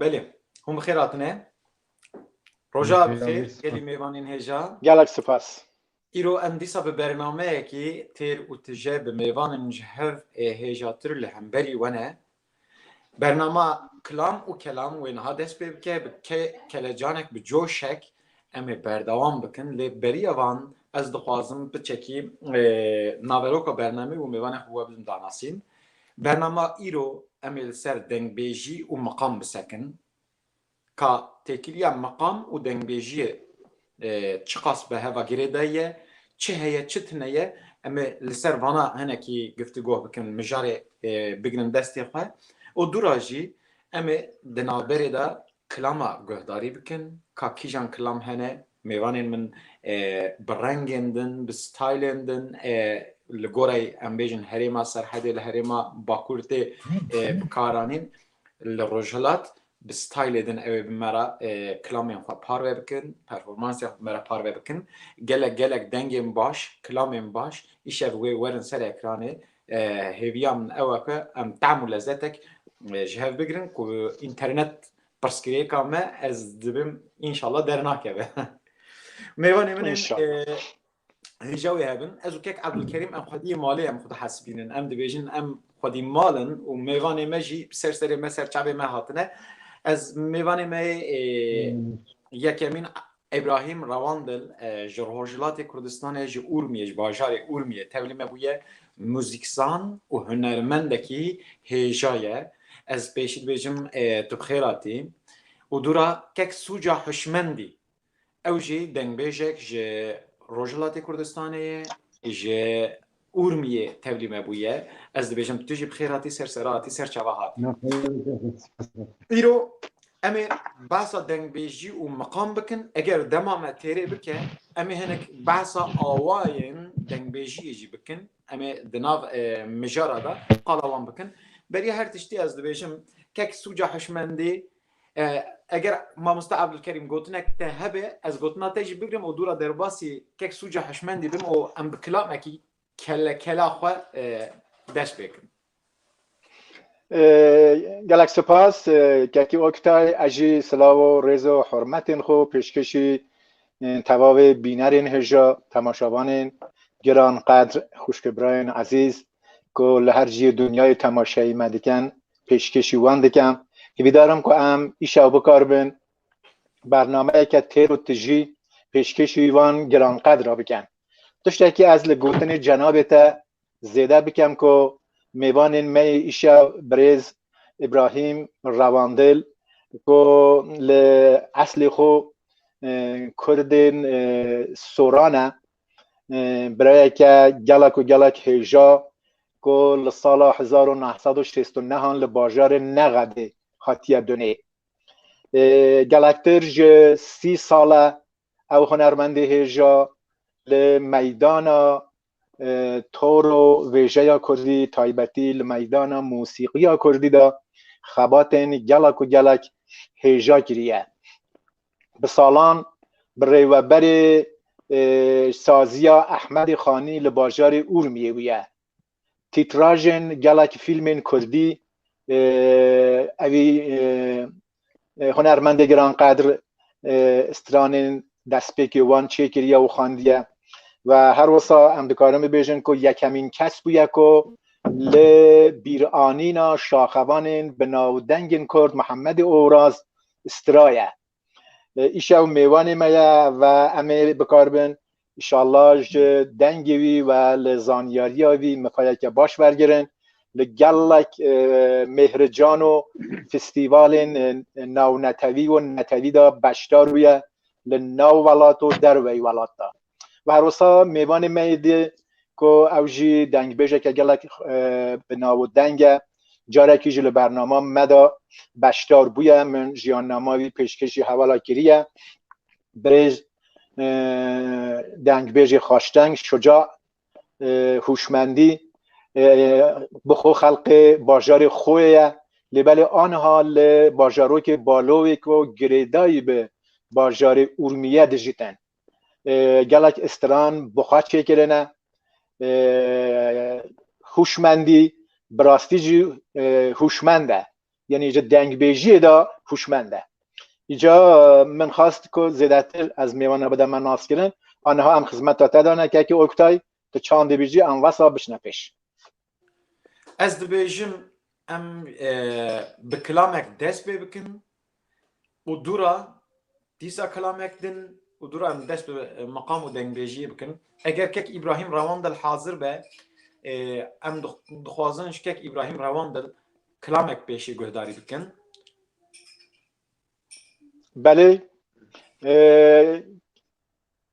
Belê, hûn bi xêr hatine. Roja bi xêr, gelî mêvanên hêja. Gelek spas. Îro em dîsa bi bernameyekî têr û tije bi mêvanên ji hev ê hêjatir li hemberî we ne Bernama Kilam û Kelam wê niha dest pê bike bi kelecanek bi coşek em ê berdewam bikin lê beriya van ez dixwazim piçekî naveroka bernamê û mêvanê xwe we bidin danasîn. Bernama îro em ê li ser dengbêjî û miqam bisekin. Ka têkiliya meqam û dengbêjiyê çiqas bi heva girêdayî ye, çi heye çi tine ye, em ê li ser vana hinekî giftugoh bikin, mijarê bigrin destê xwe û dû ra jî em ê di navberê de kilama guhdarî bikin, ka kîjan kilam hene, mêvanên min bi rengên din, bi stylên din li goreyê em bêjin herêma Serhedê li herêma Bakur tê bikaranîn, Li Rojhilat bi stylê din ew ê bi me re kilamên xwe parve bikin, performansên xwe bi me re parve bikin. Gelek gelek dengên baş, kilamên baş îşev wê werin ser ekranê. Hêviya min ew e ku em tehm û lezetek ji hev bigirin ku înternet pirsgirêka me ez dibim înşallah dernakeve. Mêvanê min ên hêja wê hebin ez û kek Ebdulkerîm em xwediyê malê em xwe dihesibînin em dibêjin em xwedî malin û mêvanê me jî ser serê me ser çavê me hatine ez mêvanê me yekemîn Ebrahîm Rewandil ji Rojhilatê Kurdistanê ji Urmiyê ji bajarê Urmiyê tevlî me bûye muzîkzan û hunermendekî hêja ye ez pêşî dibêjim tu bi xêr hatî û dûra kek sûca hişmendî Ew jî dengbêjek ji Rojhilatê Kurdistanê ye, ji Urmiyê tevlî me bûye. Ez dibêjim tu jî bi xêr hatî ser serra hatî ser çava hatî. Îro em ê behsa dengbêjî û miqam bikin. Eger dema me têrê bike em ê hinek behsa awayên dengbêjiyê jî bikin. Em ê di nav mijara de qala wan bikin. Beriya her tiştî ez dibêjim kek sûca hişmendî Eger mamoste Evdulkerîm gotinek te hebe ez gotina te jî bigrim û dûra derbasî kek sûca hişmendî bim û em bi kilamekî kelekela xwe dest pê kirin. Gelek sipas Kekî Oktay ez jî silav û rêz û hurmetên xwe pêşkêşî tevavê bînerên hêja temaşavanên giranqedr xwişkê birayên ezîz ku li her ciyê dinyayê temaşeyê me dikin pêşkêşî wan dikim. Hîvîdar im ku em îşa wî bikaribin bernameyeke têr û tijî pêşkêşî wan giranqedr a bikin. Tiştekî ez li gotinê cenabê te zêde bikim ku mêvanên me yê îşa birêz Îbrahîm Rewandil ku li eslê xwe Kurdên Soran e Birayeke gelek û gelek hêja ku li sala hezar û neh sed û şêst û nehan li bajarê Nexedê hatiye dunê. Gelektir ji sî sal e ew hunermendê hêja li meydana toro vêjeya kurdî taybetî li meydana mûsîqiya kurdî de xebatên gelek û gelek hêja kiriye. bi salan bi rêweberê e, saziya Ehmedê Xanî li bajarê Urmiyê bûye. Tîtrajên gelekî fîlmên Kurdî e, evî e, e, hunermendê giran qedir e, stranên destpêkê wan çêkiriye û xandiye ve her wisa em dikarin bibêjin ku yekemîn kes bûye ku li bîranîna şaxevanên bi navdengên Kurd Mihemedê Oraz straye. Îşe ew mêvanê me ye ve em ê bikarbin. Îşallah ji dengê wî ve li zanyariya wî mifayeke baş wergirin. Li gelek mêhrican û fîstîvalên nawnetewî û netewî de beşdar bûye li nav welat û derwey welat de. Ve her wisa mêvanê me yê dî ku ew jî dengbêjeke gelek bi nav û deng e. Carekî jî li bernama me de beşdar bûye. Min jiyannama wî pêşkêşî hevala kiriye. Birêz dengbêjê xaşdeng, şuca, hûşmendî bi xwe xelqê bajarê xwe ye. Lê belê aniha li bajarokê Balowê ku girêdayî bi bajarê Urmîye dijî tên. gelek istiran buxa çêkirine hûşmendî bi rastî jî hûşmend e yenî ji dengbêjiyê de hûşmend e îca min xast ku zêdetir ez mêwana bide me naskirin aniha em xizmeta te dane kekê Oktay tu çandê bîjî em wesa bişne pêş Ez dibêjim em bi kilamek dest pê bikin û dûra dîsa kilamek din û dûra em dest bi meqam û dengbêjiyê bikin. Eger kek Îbrahîm rewan dil hazir be em dixwazin ji kek Îbrahîm rewan dil kilamek pêşî guhdarî bikin. Belê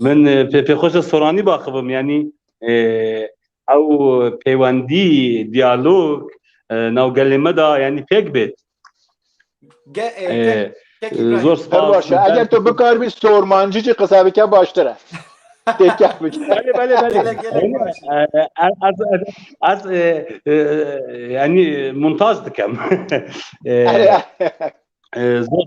Min pê pêxweşe soranî baxibim yanî ew pêwendî diyalog nav gelê me da yanî pêk bêt. Zor spas. Eger tu bikaribî sormancî jî qisa bike baştir e. Têkek bike. Belê belê belê. Ez yanî montaj dikim. Zor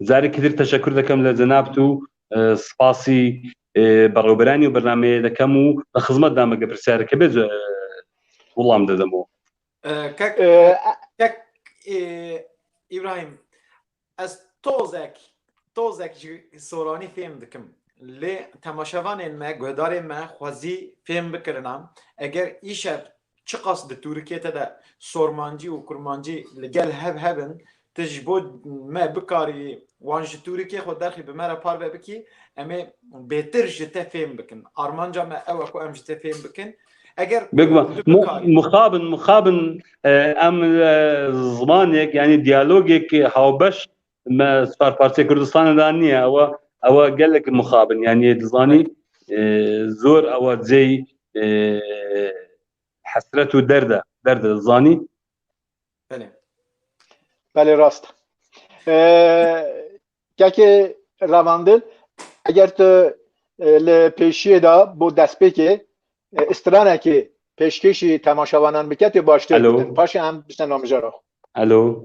Zarekî dir teşekur dikim li cenab tu spasî berûberanî û bernameyê dikim û li xizmet de me ge pirsyareke bê wilam didim û. Kek kek Îbrahîm ez tozek tozek ji soranî fêm dikim lê temaşevanên me guhdarên me xwezî fêm bikirinan eger îşev Çiqas di Turikiyê te de Sormancî û Kurmancî li gel hev hev in, tu ji bo me bikarî wan ji Turikiyê xwe derxî bi me re parve bikî, em ê bêtir ji te fêm bikin. Armanca me ew e ku em ji te fêm bikin. Eger tu bikarî. Mixabin, mixabin em zimanêk yanî diyalogêk hawbeş Me Spar Partiya Kurdistanê de niye ewa ewa gelek mixabin yanî dizanî zor ewa cey hesret û derde derde zanî Belê Belê rast Kekê revandin eger tu li pêşiyê de bo destpêkê stranekê pêşkêşî temaşevanan bike tê baştir paşê em bişte namijara. Elo.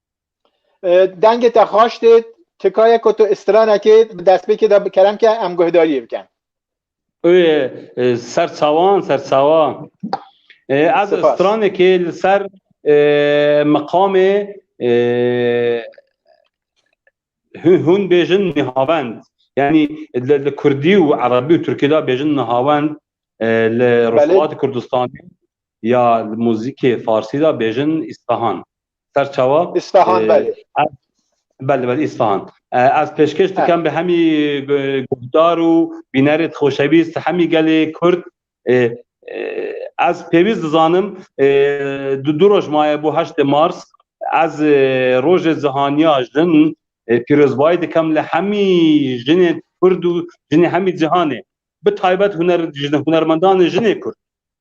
Dengê te xaş dêt, tikaye ku tu istirane kê bi destpêkê de bi kerem ke em guhdariyê bikin. Oye ser çawan ser çawan. Ez Spas. stranê kê li ser e, meqamê e, hûn- hûn bêjin nihavend. Yani li li Kurdî û Erebî û Tirkî de bêjin nihavend e, li Rojhilatê Kurdistanê Ya li muzîkê farsî de bêjin Îsfahan. Ser çawa? Îsfahan belê. Belê belê Îsfahan. Ez pêşkêş dikim bi hemî guhdar û bînerê di xoşewîst hemî gelê Kurd. Ez pêwîst dizanim di du roj maye bo heştê Mars ez rojê cihaniya jin pîrozbayî dikim li hemî jinê Kurd û jinê hemî cihanê. Bi taybet hunermendanê jinê Kurd.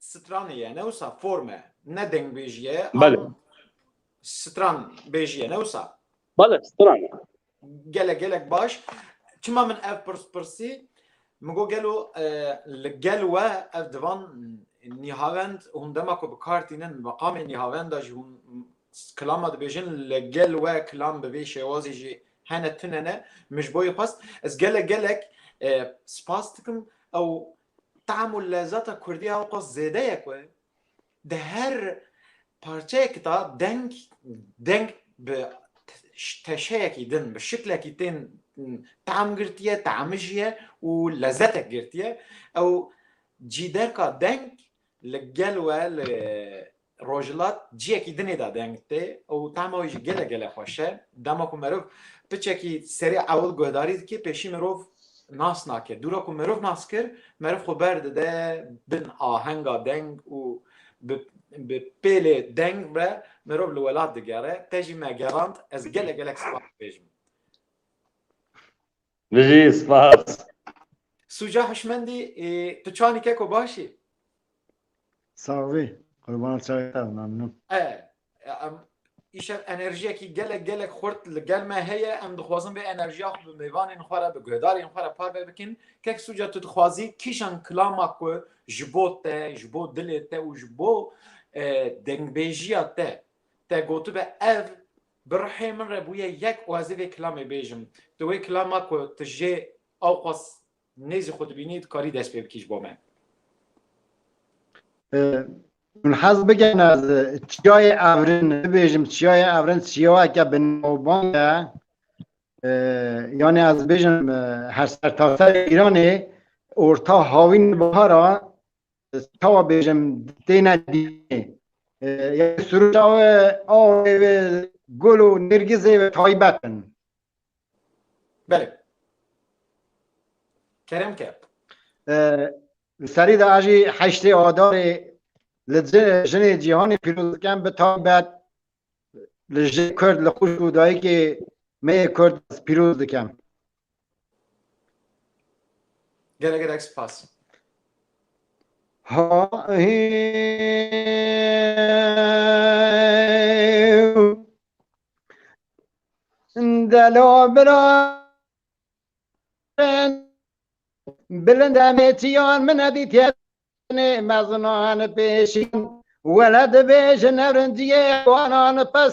Stranê ye ne wisa form e. Ne dengbêjî ye. Bale. Stran bêjî ye ne wisa. Bale stran e. Gelek gelek baş. Çima min ev pirs pirsî min got gelo e, li gel we ev divan nîhavend hûn dema ku bi kar tînin meqamê nîhavenda jî hûn kilama dibêjin li gel we kilam bi vê şêwazê jî hene tune ne min ji bo yê xwest ez gelek gelek e, spas dikim ew Tam û lezata kurdî ya wexwest zêde ye ku di her parçeyekî de deng deng bi teşeyekî din bi şiklekî tên tam girtiye, tamijiye û lezetek girtiye. Ew cîderka deng li gel we li Rojhilat ciyekî din ê de deng tê û tehma wî jî gelek gelek xweş e. Dema ku mirov piçekî serê ewil guhdarî dike pêşî mirov nas nake. Dûra ku mirov nas kir, meriv xwe berdide bin ahenga deng û bi bi pêlê deng ve mirov li welat digere. Te jî me gerand, ez gelek gelek spas dibêjim. Bijî, spas. Sûca hişmendî, tu çanî keko baş î? Sax bî, qurbana çayê te be, memnûn. Em îşev enerjiyekî gelek gelek xurt li gel me heye, em dixwazin vê enerjiya xwe bi mêvanên xwe re, bi guhdarên xwe re parve bikin. Kek Sûca tu dixwazî kîjan kilama ku ji bo te, ji bo dilê te û ji bo dengbêjiya te te gotibe ev Bi rihê min re bûye yek û ez ê vê kilamê bêjim. Di wê kilama ku tu jê awqas nêzî xwe dibînî dikarî dest pê bikî ji bo me. Hûn hez bikin ez Çiyayê Evrin bibêjim. Çiyayê Evrin çiyayeke bi navbang e. Yanî ez bêjim her sertaserê Îranê orta hawîn bihara çawa bêjim têne dînê ya suruca we awê ve gul û nêrgizê ve taybet in. Belê. Kerem ke. Li serî de jî heştê adarê li jinê cîhanê pîroz dikin bi taybet li jê kurd li xwişk û dayikê me yê kurd pîroz dikin. Gelek gelek spas. Ha Delo bira Bilind emetiyan min edî têne mezinan pêşin Wele dibêjin evrinciyê wanan pes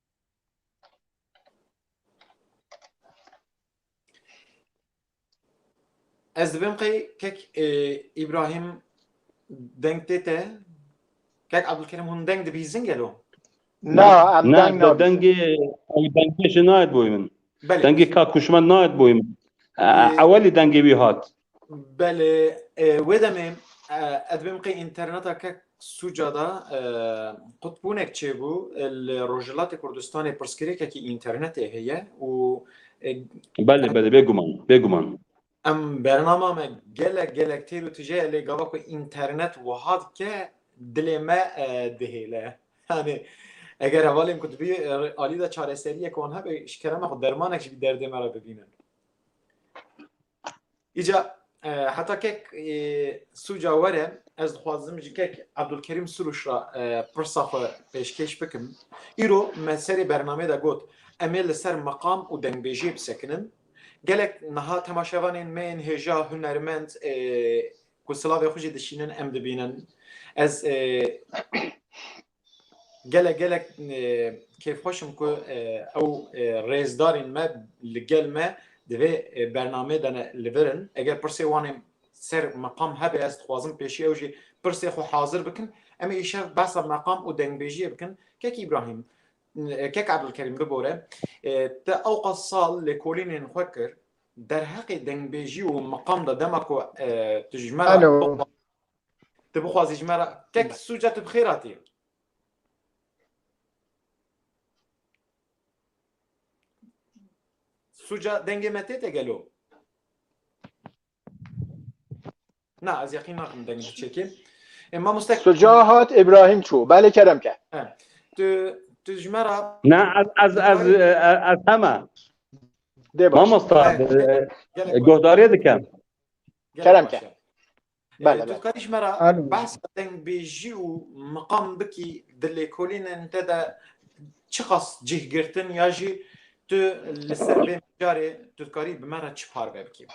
Ez dibim qey kek e, İbrahim deng tê te. Kek Abdülkerim hûn deng dibîzin gelo. Na, em Ne, deng te nabîzin. dengê ew dengê ji nayet boyê min. Belê. Dengê ka kuşmen nayet boyê min. E, Ewelî dengê wî hat. Belê wê demê ez bêm qey interneta ke sûca da qutbûnek çêbû li Rojhilatê Kurdistanê pirsgirêkekî internetê heye û Belê belê bêguman bêguman. Em bernama me gelek gelek têr û tije lê gava ku internet wiha dike dilê me dihêle. Yanê eger hevalên ku dibî alî de çareseriyek wan hebe ji kerema xwe dermanek ji bî derdê me re bibînin. Îca heta kek sûca were ez dixwazim ji kek Abdulkerîm Sûrûş re pirsa xwe pêşkêş bikim. Îro me serê bernameyê de got em ê li ser meqam û dengbêjiyê bisekinin. Gelek niha temaşevanên me yên hêja hunermend ku silavê xwe jî dişînin em dibînin. Ez Gelek gelek kêfxweş im ku ew rêzdarên me li gel me di vê bernameyê de ne li vir in. Eger pirsê wan ê ser meqam hebe ez dixwazim pêşî ew jî pirsê xwe hazir bikin. Em ê îşev behsa meqam û dengbêjiyê bikin. Kek Îbrahîm, Kek Ebdulkerîm bibore, te ewqas sal lêkolînên xwe kir, derheqê dengbêjî û meqam de dema ku tu ji me re Tu bixwazî ji me re tek sûca tu bi xêr hatî. Sûca dengê me tê te gelo. Na ez yaqîn nakim deng ji çekê. Ê mamoste Suca hat İbrahim çû. Belê kerem ke. tu tu ji me re Na ez ez ez ez hema. Dê baş. Mamosta Gelek baş. guhdarê dikim. Gelek Kerem baş ke. e. Bele, bele. Tu dikarî ji me re Alo. behsa dengbêjî û miqam bikî di lêkolînên te de çiqas cih girtin ya jî tu li ser vê mijarê tu dikarî bi me re çi parve bikî?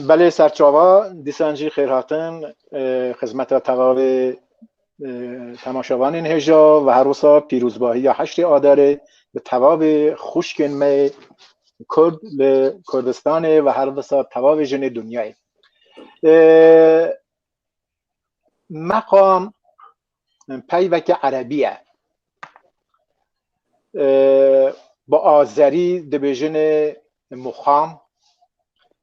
Belê serçava, dîsan jî xêrhatin xizmeta tevavê Temaşevanên hêja ve her wisa pîrozbahiya heştê Adarê bi tevavê xwişkên me Kurd li Kurdistanê ve her wisa tevavê jinê dinyayê. Meqam peyveke erebî ye. Bi azerî dibêjinê muqam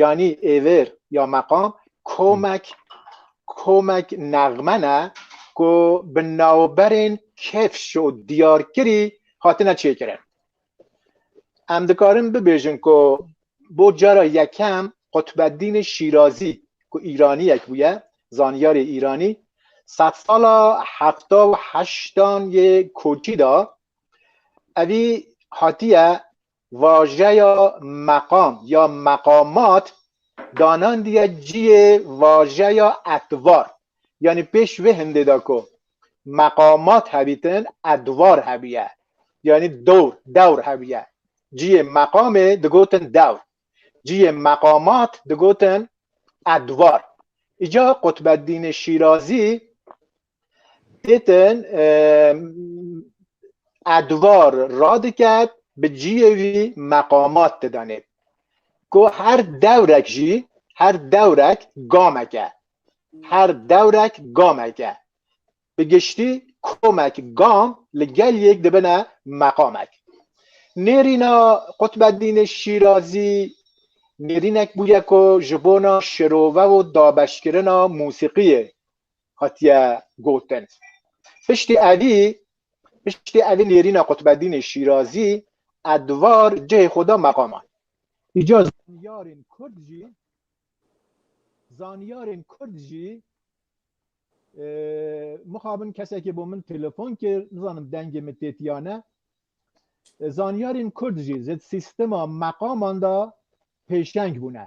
yanî êvêr ya meqam komek komek nexme ne ku bi navberên kevş û diyarkirî hatine çêkirin. Em dikarin bibêjin ku bo cara yekem Qutbeddînê Şîrazî ku Îraniyek bûye, zanyarê Îranî sed sala hefta û heştan yê koçî da evî hatiye Vajeya meqam ya meqamat danandiye ciyê vajeya edvar. Yanî pêş vê hindê de ku meqamat hebîtin edvar hebûye. Yanî dor, dewr hebûye. Ciyê meqamê digotin dewr. Ciyê meqamat digotin edvar. Îcar Qutbeddînê Şîrazî Pêtin edvar radiket bi ciyê wî meqamat didanê ku her dewrek jî her dewrek gamek e her dewrek gamek e bi giştî komek gam li gel yek dibine meqamek. Nêrîna Qutbedînê Şîrazî nêrînek bûye ku ji bona şirove û dabeşkirina mûsîqiyê hatiye gotin. Piştî evî piştî evî nêrîna Qutbedînê Şîrazî e di var cihê xwe da meqaman. Îca zanyarên Kurd jî zanyarên Kurd jî mixabin kesekê bo min telefon kir nizanim dengê min tê tiya ne zanyarên Kurd jî zed sîstema meqaman da pêşeng bûne.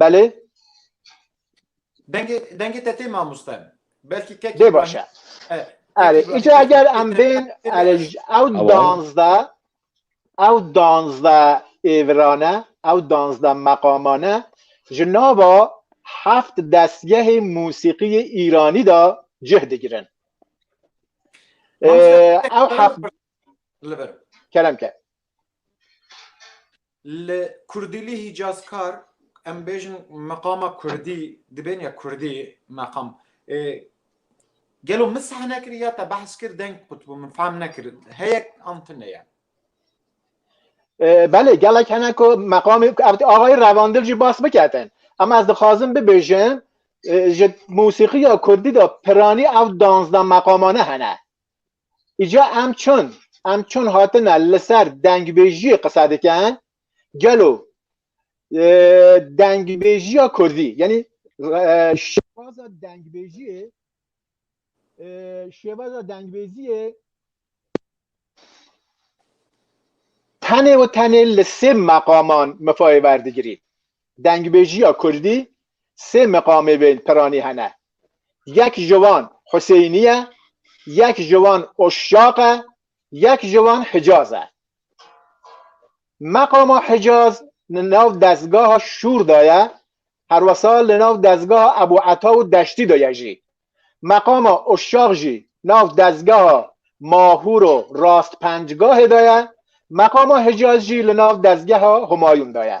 Belê. Dengê dengê te tê mamoste. Belkî kekî Dê baş e. Erê, îca eger em bên erê ew danzda ew danzda êvirane, ew danzda meqamane ji nava heft destgehê musîqiyê Îranî de cih digirin. Ew heft kerem ke. Li Kurdîlî Hîcazkar em bêjin meqama Kurdî dibên ya Kurdî meqam. Gelo min seh nekir ya te behs kir deng qutbû min fehm nekir heyek an tu ne ye. Belê gelek hene ku meqamê axayî revandil jî bas biketin. Em ez dixwazim bibêjim ji mûsîqiya Kurdî de piranî ew danzda meqamane hene. Îca em çun em çun hatine li ser dengbêjiyê qisa dikin gelo dengbêjiya Kurdî yanî şêwaza dengbêjiyê şêwaza dengbêjiyê tenê û tenê li sê meqaman mifayê werdigirî. Dengbêjiya Kurdî sê meqamê bên piranî hene. Yek ji wan Huseynî ye, yek ji wan Uşşaq e, yek ji wan Hicaz e. Meqama Hicaz li nav dezgaha Şûr de ye, herwesa li nav dezgaha Ebû Eta û Deştî de ye jî. Meqama Uşşaq jî nav dezgeha Mahûr û Rastpencgahê de ye, meqama Hicaz jî li nav dezgeha Humayûn de ye.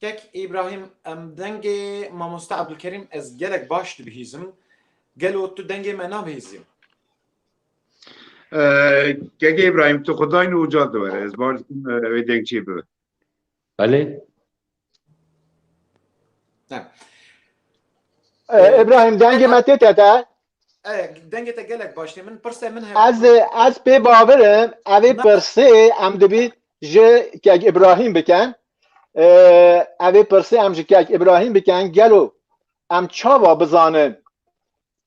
Kek Îbrahîm em dengê mamoste Ebdulkerîm ez gelek baş dibihîzim. Gelo tu dengê me nabihîzî? Kek Îbrahîm tu xwe dayne û ca diwere ez baş dikim wê dengçî bibe. Belê. Ebrahim dengê me tê te te. Dengê te gelek baş tê min pirse min hebe. Ez ez pê bavirim evê pirsê em dibî ji kek Ebrahim biken. Evê pirsê em ji kek Ebrahim biken gelo em çawa bizanin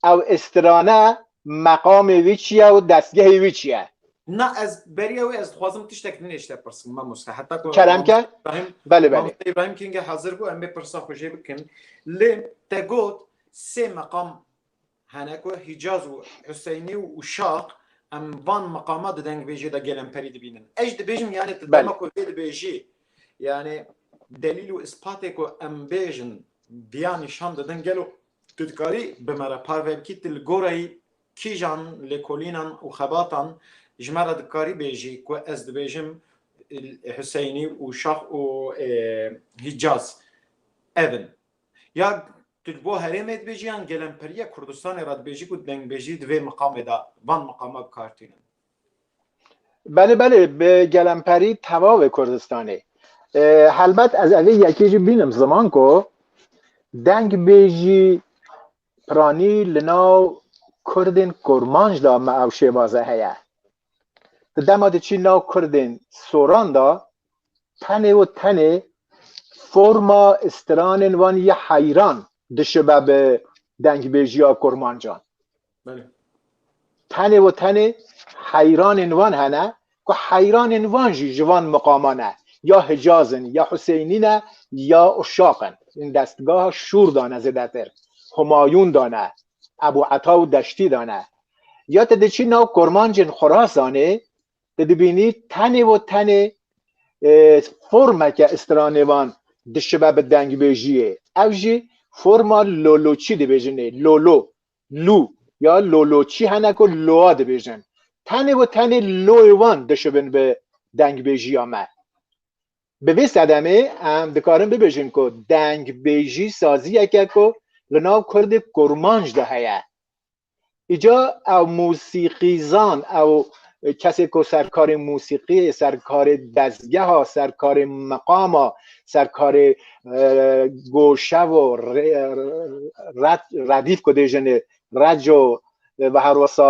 Ew strane meqamê wî çi ye û destgehê wî çi ye? Na ez beriya wê ez dixwazim tiştek din êşte pirsin mamoste heta ku Kerem ke? Belê belê. Mamoste İbrahim King'e hazır bû em bê pirsa xwe jê bikin. Lê te got sê meqam hene ku Hicaz û Huseyni û Şaq em van meqama di dengbêjê de gelemperî dibînin. Ez dibêjim yani tu dema ku vê dibêjî yani delîl û ispatê ku em bêjin diya nîşan didin gelo Tu dikarî bi me re parve bikî tu li goreyî kîjan lêkolînan û xebatan ji me re dikarî bêjî ku ez dibêjim Huseynî û Şax û Hîcaz ev in. Ya tu bo herêmê dibêjî yan gelemperîya Kurdistanê re dibêjî ku dengbêjî di vê miqamê de van miqama bi kar tînin. Belê belê bi gelemperî tevavê Kurdistanê. Helbet ez evê yekê jî bînim ziman ku deng bêjî piranî li nav Kurdên kurmanc da me ew şêvaze heye. Di dema di çî nav Kurdên soran da tenê û tenê forma stranên wan yê heyran dişibe bi dengbêjiya kurmancan. Tenê û tenê heyranên wan hene ku heyranên wan jî ji van miqaman e, ya Hicaz in, ya Huseynî ne, ya Uşaq in. Hûn destgeha Şûr de ne zêdetir, Humayûn de ne, Ebû Eta û Deştî de ne. Ya tu diçî nav kurmancên Xurasanê, tu dibînî tenê û tenê formeke stranêvan dişibe bi dengbêjiyê. Ev jî forma loloçî dibêjinê, lolo. Lu ya loloçî hene ku loa dibêjin. Tenê û tenê loyê wan dişibin bi dengbêjiya me. Bi vê sedemê em dikarin bibêjin ku dengbêjî saziyeke ku li nav kurdê kurmanc de heye. Îca ew mûsîqîzan, ew Kesê ku serkarê musîqiyê, serkarê dezgeha, serkarê meqama, serkarê goşevo, redîf ku dê jinê, reco ve her wesa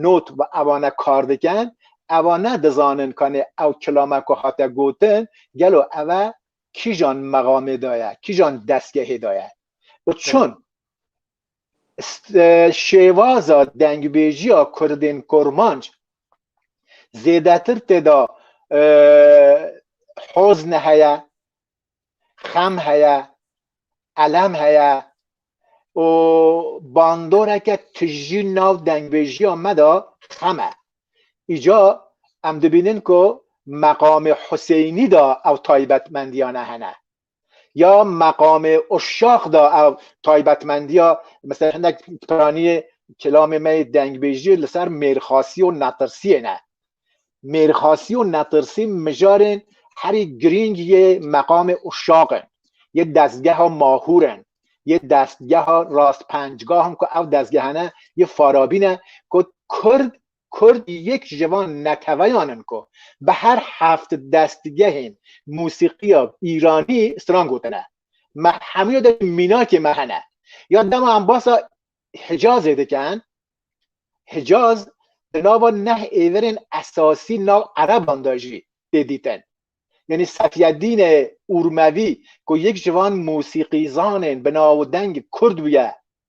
not ve evane kar diken, evane dizanin kanê ew kilame ku hate gotin gelo eve kîjan meqamê de ye, kîjan dezgehê de ye û çun? şêwaza dengbêjiya Kurdên Kurmanc zêdetir têda hozn heye, xem heye, elem heye û bandoreke tijî nav dengbêjiya me de xem e. Îca em dibînin ku meqamê Huseynî de ew taybetmendiyane hene. ya meqamê uşax da ev taybetmendiya mesela hinek piraniyê kelamê me yê dengbêjiyê li ser mêrxasî û netirsiyê ne. Mêrxasî û netirsî mijarên herî girîng yê meqamê uşax in, yê destgeha Mahûr in, yê destgeha Rastpençgah in ku ev destgehane yê Farabî ne ku Kurd Kurd yek ji van neteweyan in ku bi her heft destgehên mûsîqiya îranî stran gotine. Me hemûya de jî mînakê me hene. Ya dema em basa Hicazê dikin, Hicaz di nava neh êverên esasî nav ereban de jî tê dîtin. Yanî Sefyedîne Urmevî ku yek ji van mûsîqîzanên bi navdeng kurd bûye,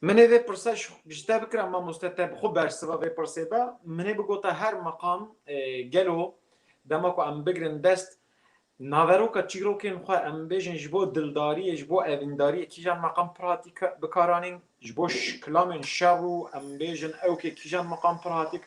Min ê vê pirsa ji te bikira mamoste te bi xwe bersiva vê pirsê de min ê bigota her meqam gelo dema ku em bigirin dest naveroka çîrokên xwe em bêjin ji bo dildariyê ji bo evîndariyê kîjan meqam pir hatî bikaranîn ji bo kilamên şer û em bêjin ew kê kîjan meqam pir hatî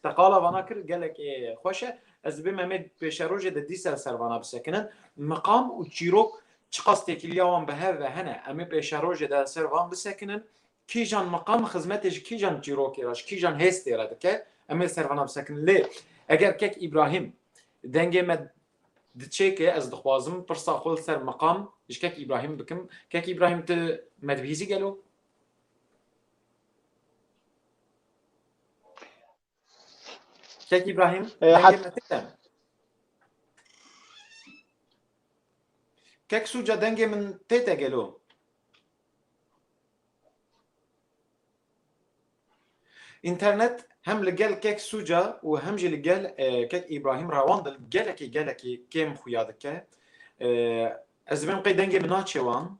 te qala vana kir gelek ê xweş e ez dibê me mê pêşerojê de dîsa servana bisekinin meqam û çîrok Çiqas têkiliya wan bi hev ve hene, em ê pêşerojê de li ser van bisekinin, kîjan miqam xizmetê ji kîjan çîrokê re, ji kîjan hêstê re dike, em ê li ser vana bisekinin. Lê eger kek Îbrahîm dengê me diçêke, ez dixwazim pirsa xwe li ser miqam ji kek Îbrahîm bikim, kek Îbrahîm tu me dibihîzî gelo? Şek İbrahim. Kek suca dengê min tête gelo. İnternet hem li gel kek suca û hem jî li gel kek İbrahim rewan dil gelekî gelekî kêm xuya dike. Ez dibêjim qey dengê min naçe wan.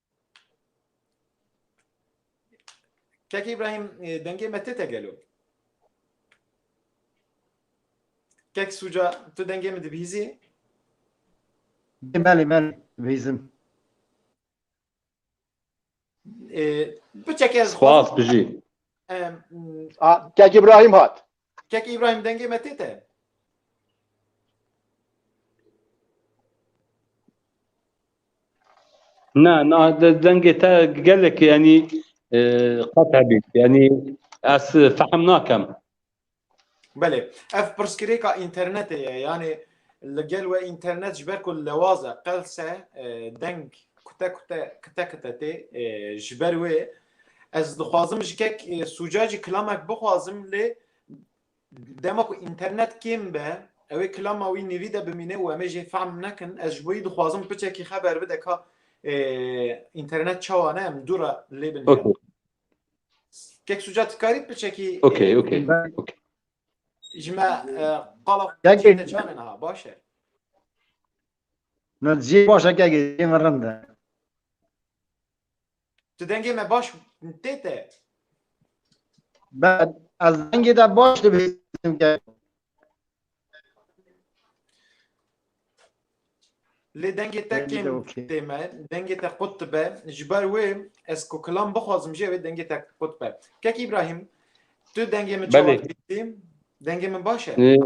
Kek İbrahim e, dengê me tê te gelo. Kek Suca tu dengê min dibihîzî? Belê belê vêzim. E, Biçeke ez Spas bijî. Em, A, Kek İbrahim hat. Kek İbrahim dengê me tête. Na, na dengê te gelek yani e, qet hebît. Yani ez fehm nakem. Belê. Ev pirsgirêka internetê ye. Yani li gel we internet ji ber ku lewaz e qelse e, deng kute kute kite kite tê e, ji ber wê Ez dixwazim ji kek sûca jî kilamek bixwazim lê dema ku înternet kêm be ewê kilama wî nêvî de bimîne û em ê jê fehm nekin ez ji bo yî dixwazim piçekî xeber bide ka internet çawa ne em dû re lê bin okay. kek sûca tikarî piçekî okay, okay. okay. ji me qala çêne çanin ha baş e Nadzî baş e kek rind e Tu dengê me baş tê te. Ben ez dengê de baş dibêsim ke. Lê dengê te kêm tê me, dengê te qut dibe. Ji ber wê ez ku kilam bixwazim jê wê dengê te qut be. Kek İbrahim, tu dengê min çawa dibîtî? Dengê min baş e?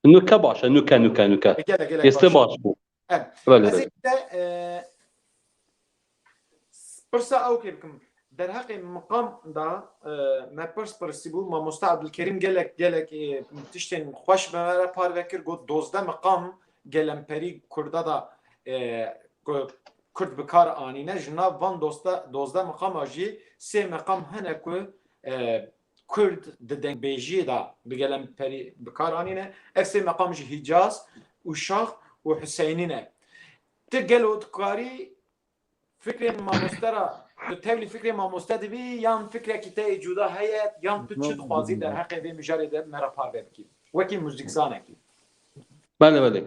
Nuke baş e, nuke, nuke, nuke. E, gelek, gelek Êstê baş baş bû. e. Em. Belê, Ez ê belê. te e, s- pirsa ew kê bikim. Derheqê miqam da e, me pirs pirsîbû mamosta Abdulkerîm gelek gelek e, tiştên xweş me re parve kir got dozdeh miqam gelemperî kurda da e, ku- kurd bi kar anîne ji nav van dosta dozdeh miqama jî sê miqam hene ku e, Kurd di dengbêjiyê de bi gelemperî bi kar anîne. Ev sê meqam jî Hîcaz, Uşax û Huseynî ne. Ti gelo dikarî fikrên mamoste re tu tevlî fikrê mamoste dibî yan fikrekî te yê cuda heye yan tu çi dixwazî derheqê vê mijarê de me re parve bikî wekî muzîkzanekî? Bale bale.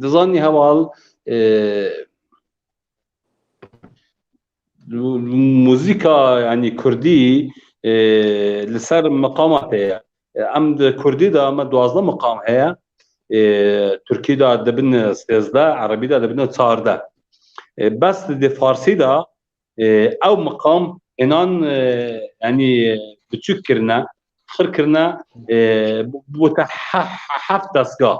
Dizanî heval Muzîka yanî kurdî li ser miqama te ye. Em di kurdî de me duwazdeh miqam heye. Tirkî de dibin sêzdeh, erebî de dibin çardeh. Bes di farsî de ew miqam înan yanî biçûk kirine, xir kirine bûte heft destgah.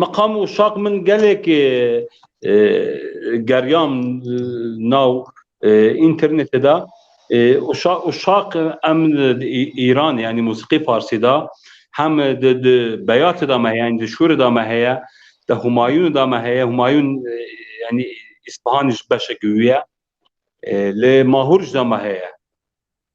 Meqam û şaq min gelek geriyan nav înternetê de û şaq em îran yanî mûsîqî farsî de hem di beyatê de me heye, di şûrê de me heye, di Humayûnê de me heye, Humayûn yanî Îspahanê jî beşekî wî ye, li Mahûr jî de me heye.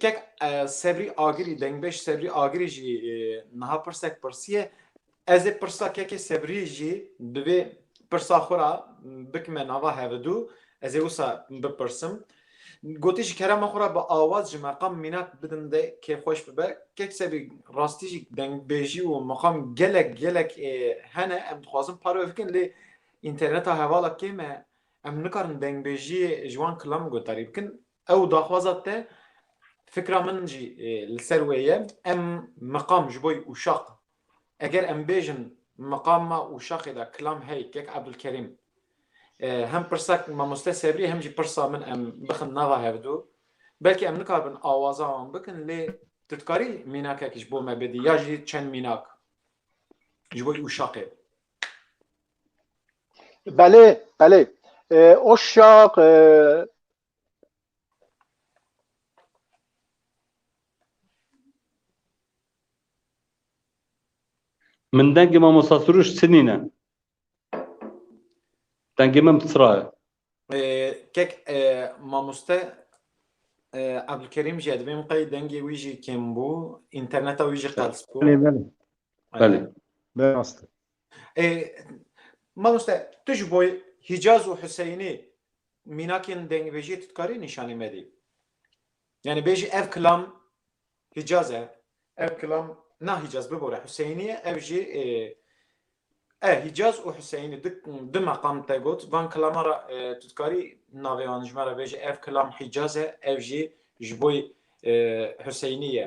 Kek Sebrî Agirî, Dengbêj Sebrî Agirî jî niha pirsek pirsiye. Ez ê pirsa Kekê Sebrî jî bi vê pirsa xwe re bikime nava hevidû, ez ê wisa bipirsim. Gotî ji kerema xwe re bi awaz ji meqam mînak bidin de kê xweş bibe. Kek Sebrî rastî jî dengbêjî û meqam gelek gelek hene em dixwazin parve bikin lê înterneta hevala kêm e em nikarin dengbêjiyê ji wan kilam guhdarî bikin. Ew daxwaza te fikra min jî li ser wê ye. Em miqam ji bo ûşaq eger em bêjin miqama ûşaqê de Kilam hey kek Ebdulkerîm hem pirsa mamoste Sebrî hem jî pirsa min em bixin nava hevdu belkî em nikarbin awaza wan bikin lê tu dikarî mînakekî ji bo me bidî ya jî çend mînak ji bo ûşaqê Belê belê ûşaq Min dengê mamosta Suruş sinîne. Dengê min psra ye. Kek mamoste Abdulkerîm jî ye dibê min qey dengê wî jî kêm bû, înterneta wî jî qels bû. Belê belê. Belê. Be rast e. Ê mamoste tu ji bo Hîcaz û Huseyinî mînakên dengvêjiyê tu dikarî nîşanî medî? Yanî bêjî ev kilam Hîcaz e, ev kilam na Hîcaz bibore Huseyinî ye, ev jî e Hîcaz û Huseyinî di di meqam te got van kilaman re tu dikarî navê wan ji me re bêjî ev kilam Hîcaz e, ev jî ji bo Huseyinî ye.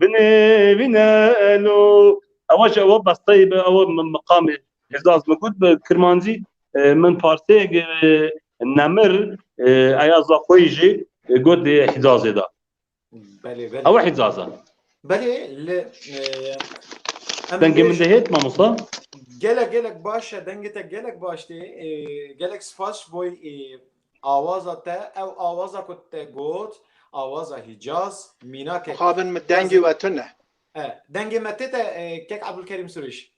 Binê vîne elo ewa jî ewa besteyê bi ewa miqamê hêza ez migot bi kirmancî min parsêyek nemir eya zaxoyî jî got dê hîzazê da. Belê belê. Ewa hîzaza. Belê li Dengê min de hêt mamosta? Gelek gelek baş e dengê te gelek baş tê gelek spas ji boy Awaza te ew awaza ku te got awaza Hîcaz mînakek. Mixabin min dengê we tune. E, dengê me tê te e, kek Abdulkerîm Surîş.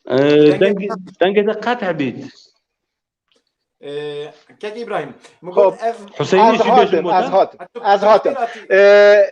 Dengê dengê te qet hebît. E, kek İbrahim. Min Xop. got ev Hüseyinê Ez jî bêjin hatim, ez botan. hatim, ez hatim. E,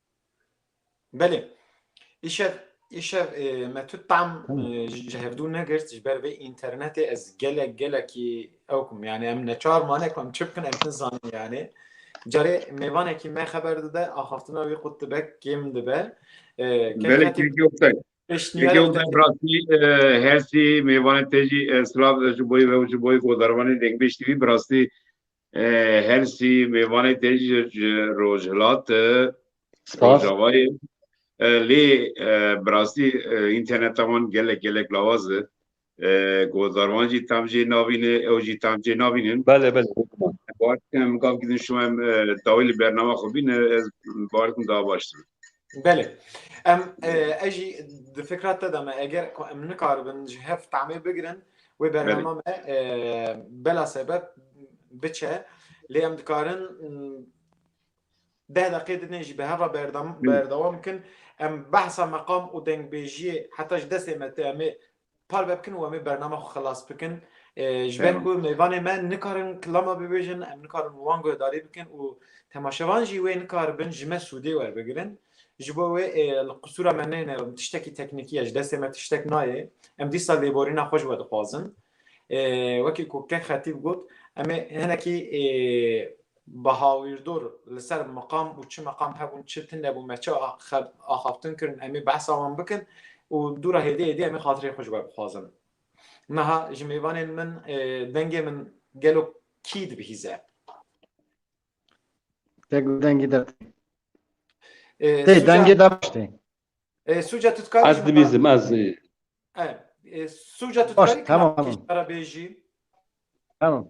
Belê. Îşev îşev me tu tam ji hevdû negirt ji ber vê internetê ez gelek gelekî ew kum yani em neçar mane ku em çi bikin em nizanin yani carê mêvanekî me xeber dide axaftina wî qut dibe kêm dibe hersî mêvanê te jî silav ji boyê ve ji boyê godarvanê dengbêj tî bi rastî Hersî mêvanê te ji Rojhilat e. Spas. Rojavayê. Lê bi rastî înterneta wan gelek gelek lawaz e. Godarwan jî tam jê navîne, ew jî tam jê navînin. Belê belê. Baş em gav gidin şûm em dawî li bernama xwe bîne ez baş dikim daha baş dibe. Belê em e jî di fikra te de me eger em nikaribin ji hev tamê bigirin wê bernama me bela sebep biçe lê em dikarin deh deqê dinê jî bi heva berdewam bikin em behsa meqam û dengbêjiyê heta ji destê me te em ê Parve bikin û em ê bername xwe xilas bikin. Ji ber ku mêvanê me nikarin kilama bibêjin, em nikarin wan guhdarî bikin û temaşevan jî wê nikaribin ji me sûdê werbigirin. Ji bo wê li qisûra me nênêrin. Tiştekî teknîkî ye, ji destê me tiştek nayê. Em dîsa lêborîna xwe ji we dixwazin. Wekî ku kek xetîb got, em ê hinekî Bahawîrdor li ser meqam û çi meqam hebûn çi tune bûn me çi axaftin kirin em ê behsa wan bikin û dûra hêdê hêdê em ê xatirê xwe ji we bixwazin. Niha ji mêvanên min dengê min gelo kî dibihîze? Deng û dengî der tê. Tê dengê der baş tê. Sûca tu dikarî Ez dibîzim ez. Sûca tu dikarî kî ara bêjî? Tamam.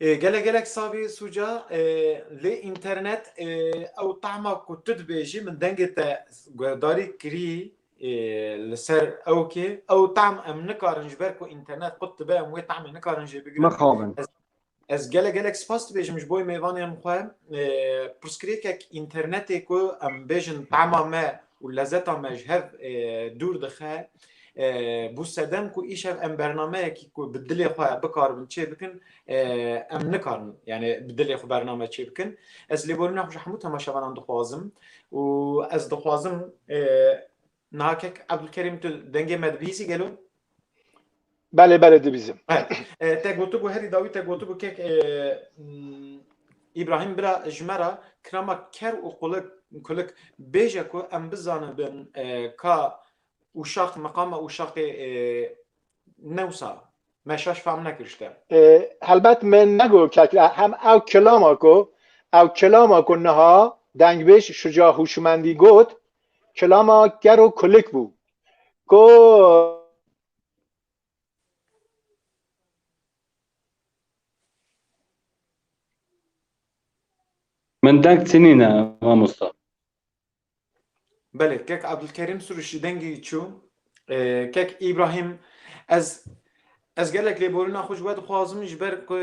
Gelek gelek savê Sûca lê înternet ew tahma ku tu dibêjî min dengê te guhdarî kirî li ser ew kê ew tahm em nikarin ji ber ku înternet qut dibe em wê tahmê nikarin jê bigirin. Mixabin. Ez gelek gelek spas dibêjim ji bo mêvanên xwe pirsgirêkek înternetê ku em bêjin tahma me û lezeta me ji hev dûr dixe. Bû sedem ku îşev em bernameyekî ku bi dilê xwe bikaribin çê bikin em nikarin yanî bi dilê xwe bername çê bikin. Ez lêborîna xwe ji hemû temaşevanan dixwazim û ez dixwazim niha kek Ebdulkerîm tu dengê me dibihîzî gelo? Belê belê dibîzim. Te gotibû herî dawî te gotibû kek Îbrahîm bira ji me re kirema ker û qulik kulik bêje ku em bizanibin ka ûşaq meqama ûşaqê newsa me şaş fam nekir ji te. Helbet me nego kek hem ew kilama ku ew kilama ku niha dengbêj şuca hûşmendî got kilama ker û kulik bû. Ko Min deng çinîne mamosta. Belê kek Abdulkerîm Surişî dengî çû. Kek Îbrahîm ez ez gelek lêborîna xwe ji we dixwazim ji ber ku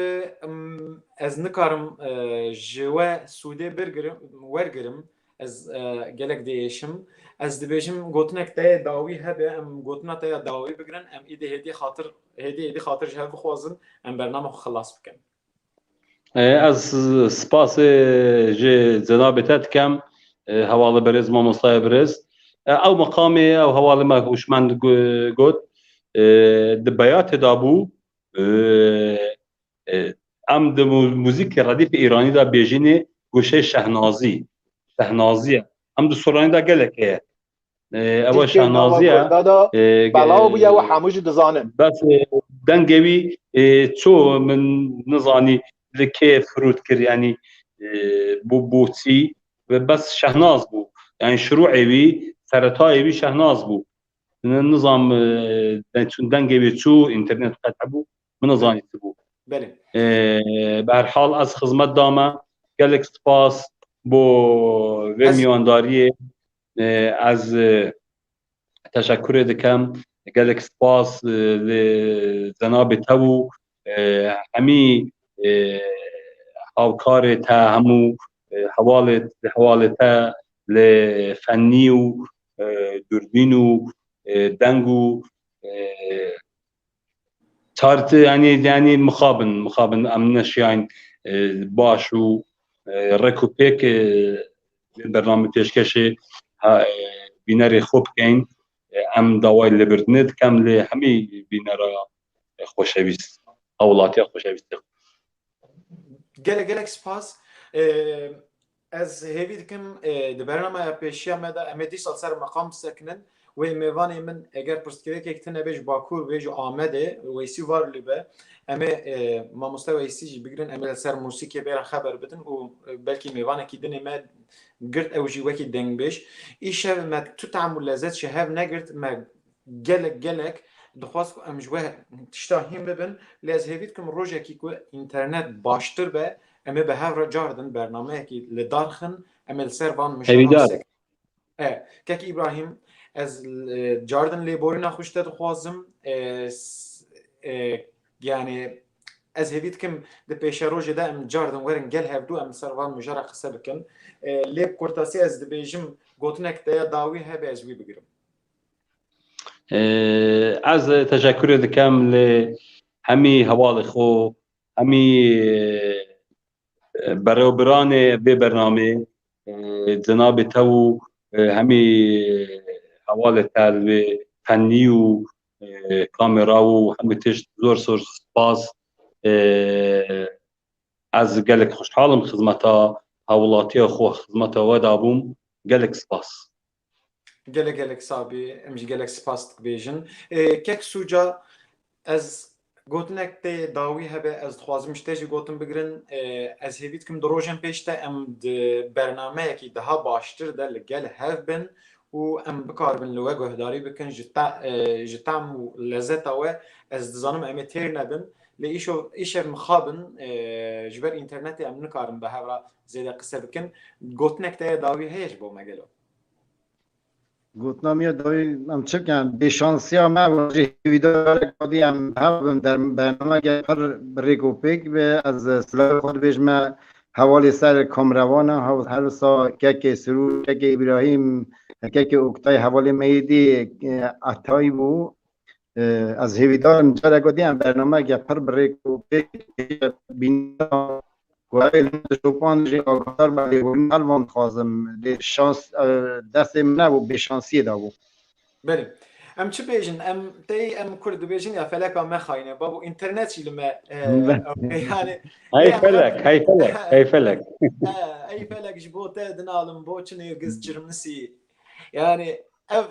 ez nikarim ji we sûdê birgirim wergirim Ez gelek diêşim. Ez dibêjim gotinek te dawî hebe em gotina te ya dawî bigirin em îdî hêdî xatir hêdî hêdî xatir ji hev bixwazin em bername xwe xilas bikin. Ez spasê ji cenabê te dikem hevalê berêz mamostaya birêz. Ew meqamê ew hevalê me hûşmend got di beyatê de bû Em di muzîkê redîfê îranî de bêjînê goşeyê şehnazî. Şehnazî ye. Em di soranî de gelek heye. Ew e şehnazî ye. Belaw bûye ew hemû jî dizanin. Bes dengê wî ço min nizanî li kê firot kir yanî bo boçî ve bes şehnaz bû. Yanî şirûê wî seretayê wî şehnaz bû. Nizam çûn dengê wê çû internet qet hebû. Min nezanî ti bû. Belê. Bi her hal ez xizmet dame. Gelek spas bo vê mîyandariyê. Ez teşekurê dikim. Gelek spas li cenabê te û hemî hawkarê te hemû hewalê hewalê te li fennî û dûrbîn û deng û Tart yani yani mixabin mixabin em neşiyayn baş û rek û pêk bername pêşkeşê bînerê xwe bikeyn em dawayê lêbirdinê dikem lê hemî bînera xweşewîst hewlatiya xweşewîst Gelek gelek spas. Ez hêvî dikim di bernameya pêşiya me de em ê dîsal ser meqam bisekinin. Wê mêvanê min eger pirsgirêkek tune bê ji Bakur bê ji Amedê Weysî Varlî be em ê mamoste Weysî jî bigirin em ê li ser mûsîkê bê re xeber bidin û belkî mêvanekî din ê me girt ew jî wekî dengbêj îşev me tu tam û lezet ji hev negirt me Gelek gelek dixwaz ku em ji we tişta hîn bibin lê ez hêvî dikim rojekî ku înternet baştir be em ê bi hev re car din bernameyekî li dar xin em ê li ser van mijdaran Kek Îbrahîm ez car din lêborîna xwe ji te dixwazim yanê ez hêvî dikim di pêşerojê de em car din werin gel hevdû em ser van mijara qise bikin lê bi kurtasî ez dibêjim gotinek te ya dawî hebe ez wî bigirim. Ez teşekkürê dikem li hemî hevalê xwe, hemî berebiranê vê bernamê, cenabê te û hemî hevalê te li vê fennî û kamera û hemî tişt zor zor spas. Ez gelek xweşhal im xizmeta hawilatiya xwe, xizmeta we dabûm. Gelek spas. Gelek gelek sabî em jî gelek spas dibêjin. Kek sûca ez gotinek tê dawî hebe ez dixwazim ji te jî gotin bigirin. Ez hêvî dikim di rojên pêş de em di bernameyekî daha baştir de li gel hev bin û em bikaribin li we guhdarî bikin ji te ji tam û lezeta we ez dizanim em ê têr nebin lê îşev îşev mixabin ji ber înternetê em nikarin bi hev re Zêde qise bikin. Gotinek te ya dawî heye ji bo me gelo? Gotina me ya dawî em çi bikin? Bêşansiya me wajî hêvî da gelek xwedî em hev bim der bernameke pir bi rêk û pêk be. Ez silavê xwe dibêjim me hevalê ser kameraman e. Her wisa kekê Sirûr, kekê Îbrahîm, kekê Oktay hevalê me yê dî Etay bû. Ez hêvîdarim carek wê diyem bernamegê pir bi rêk û pêk bîna ku evê li min şopan jî aguhdar be lê hûn mel van dixwazim lê şans destê min nebû bêşansiyê dabû. Belê. Em çi bêjin em tey em kurd dibêjin ya feleka mexayîne babo înternet jî li me yani Hey felek, hey felek, hey felek. Hey felek ji bo te dinalim bo çi nêrgiz çirmisî Yani ev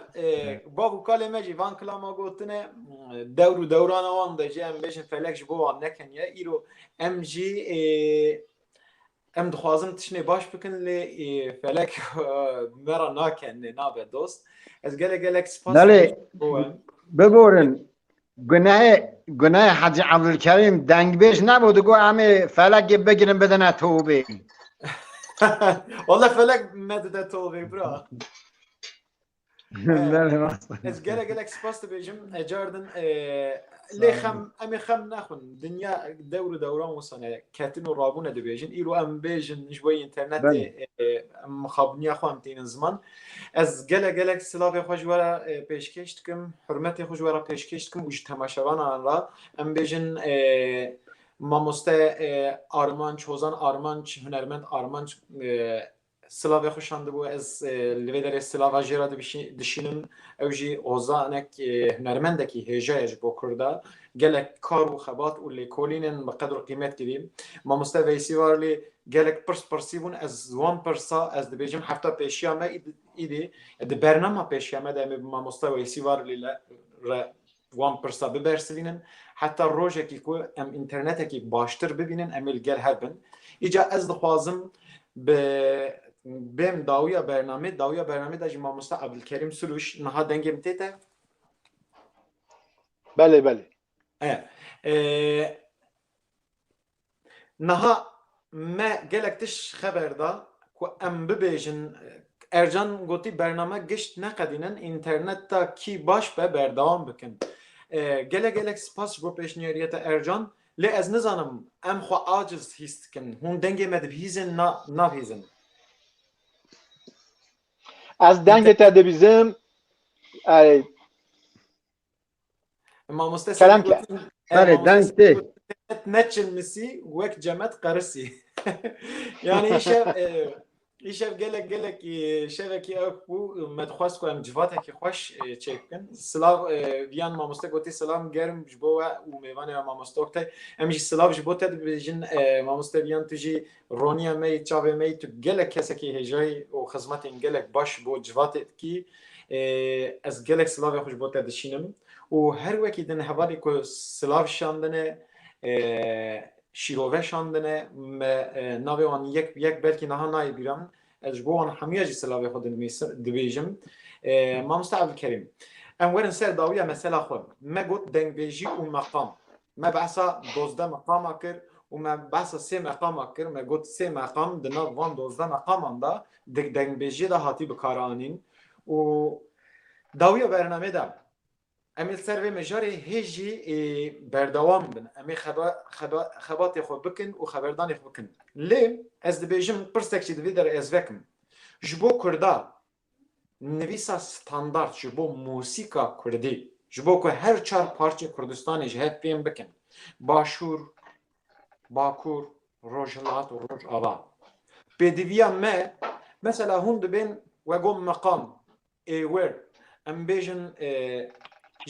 bav û kalê me jî van kilama gotine dewr û dewrana wan de jî em bêjin felek ji bo wan nekeniye îro em jî em dixwazin tiştê baş bikin lê felek me ra nakenê nabe dost ez gelek gelek spas bigorin Gunehê gunehê Hacî Evdulkerîm dengbêj nebû digot em ê felekê bigirin bidine tobê. Walla felek nedide tobê bira. Ez gele gelek spas dibêjim ecardin lê xem em ê xem nexwin dinya dewr û dewran wisane ketin û rabûne dibêjin îro em bêjin ji bo internetê mixabiniya xwe em tînin ziman. Ez gelek gelek silavê xwe ji we re pêşkêş dikim, hurmetê xwe ji we re pêşkêş dikim û ji temaşevanan re em bêjin mamoste Armanc, Hozan Armanc, hunermend Armanc silavê xwe şandibû. Ez li vê derê silava jê re dişînim. Ew jî hozanek hunermendekî hêja ye ji bo Kurd e. Gelek kar û xebat û lêkolînên bi qedr û qîmet kirîn. Mamoste Veysî Varlî gelek pirs pirsî bûn, ez wan pirsa ez dibêjim hefta pêşiya me îdî di bernama pêşiya me de em ê bi mamoste Weysî Varlî le re wan pirsa bibersivînin heta rojekî ku em înternetekî baştir bibînin em ê li gel hev bin. Îca ez dixwazim bi bêm dawiya bernamê, dawiya bernamê de jî mamoste Abdulkerîm Sirûş niha dengê min tête. Belê belê. E, e, Niha me gelek tiş xeber da ku em bibêjin Ercan gotî bername gişt neqedînin înternet ta kî baş be berdewam bikin. Gelek gelek spas bo pêşniyariyê te Ercan lê ez nizanim em xwe aciz hîs dikin hûn dengê me dibihîzin na nabihîzin. Ez dengê te dibîzim Mamoste Kerem ke. Berê deng tê. Neçin misî wek cemet qerisî. yani şev îşev gelek gelekî şevekî ew bû me dixwest ku em civatekî xweş çêk bikin. Silav viyan mamoste gotî silam germ ji bo we û mêvanê we mamoste Oktay. Em jî silav ji bo te dibêjin mamoste viyan tu jî Roniya me yê çavê me yî tu gelek kesekî hêjayî û xizmetên gelek baş bo civatê dikî. Ez gelek silavê xwe ji bo te dişînim û her wekî din hevalê ku silav şandine şîrove şandine me navê wan yek bi yek belkî niha nayê bîra min ez ji bo wan hemûya jî silavê xwe dibêjim. Mamoste Evdilkerîm, em werin ser dawiya mesela xwe. Me got dengbêjî û meqam. Me behsa dozdeh meqama kir û me behsa sê meqama kir. Me got sê meqam di nav van dozdeh meqaman de di dengbêjiyê de hatî bikaranîn û dawiya bernameyê de em ê li ser vê mijarê hê jî berdewam bin. Em ê xebatê xwe bikin û xeberdanê xwe bikin. Lê ez dibêjim pirsek jî di vê der ez vekim. Ji bo kurda Nivîsa standard ji bo mûsîka kurdî, ji bo ku her çar parçê Kurdistanê ji hev fêm bikin, Başûr, Bakur, Rojhilat û Rojava. Pêdiviya me, mesela hûn dibên wegom meqam, êwir, em bêjin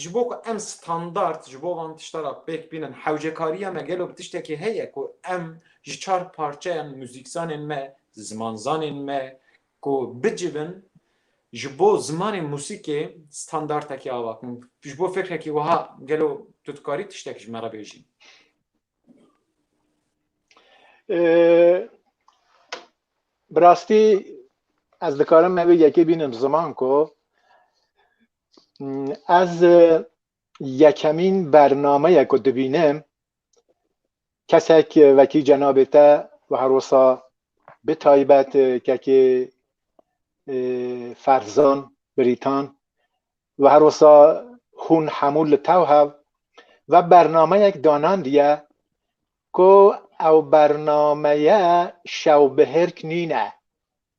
ji bo ku em standard ji bo van tişta ra pêk bînin, hewcekariya me gelo bi tiştekî heye ku em ji çar parçeyan mûzîkzanên me, zimanzanên me, ku bicivin ji bo zimanê mûsîkê standartekî ava kin, ji bo fikrekî wiha gelo tu dikarî tiştek ji me re bêjî? Bi rastî ez dikarim me wê yekê bînim ziman ku ez yekemîn bernameye ku dibînim kesek wekî cenabê te wiha rosa bi taybet kekê Ferzan Brîtan wiha rosa hûn hemû li tew hev ve bernameyek danandiye ku ew bernameye şewbihêrk nîne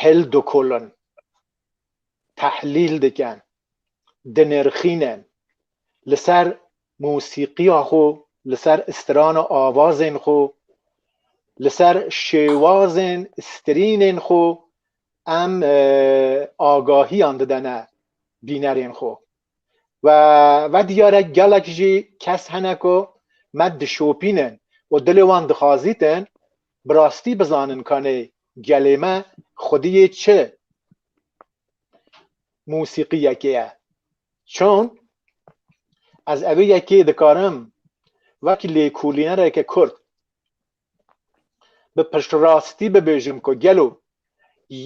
hildikulin, tehlîl dikin, dinirxînin, li ser mûsîqiya xwe, li ser strana avazên xwe, li ser şêwazên strînên xwe em agahiyan didene bînerên xwe. We ve diyar e gelek jî kes hene ku me dişopînin û dilê wan dixazîtin bi rastî bizanin kanê gelê me xwediyê çi mûsîqîyekê ye. Çon ez evê yekê dikarim wek lêkolînereke kurd bi piştrastî bibêjim ku gelo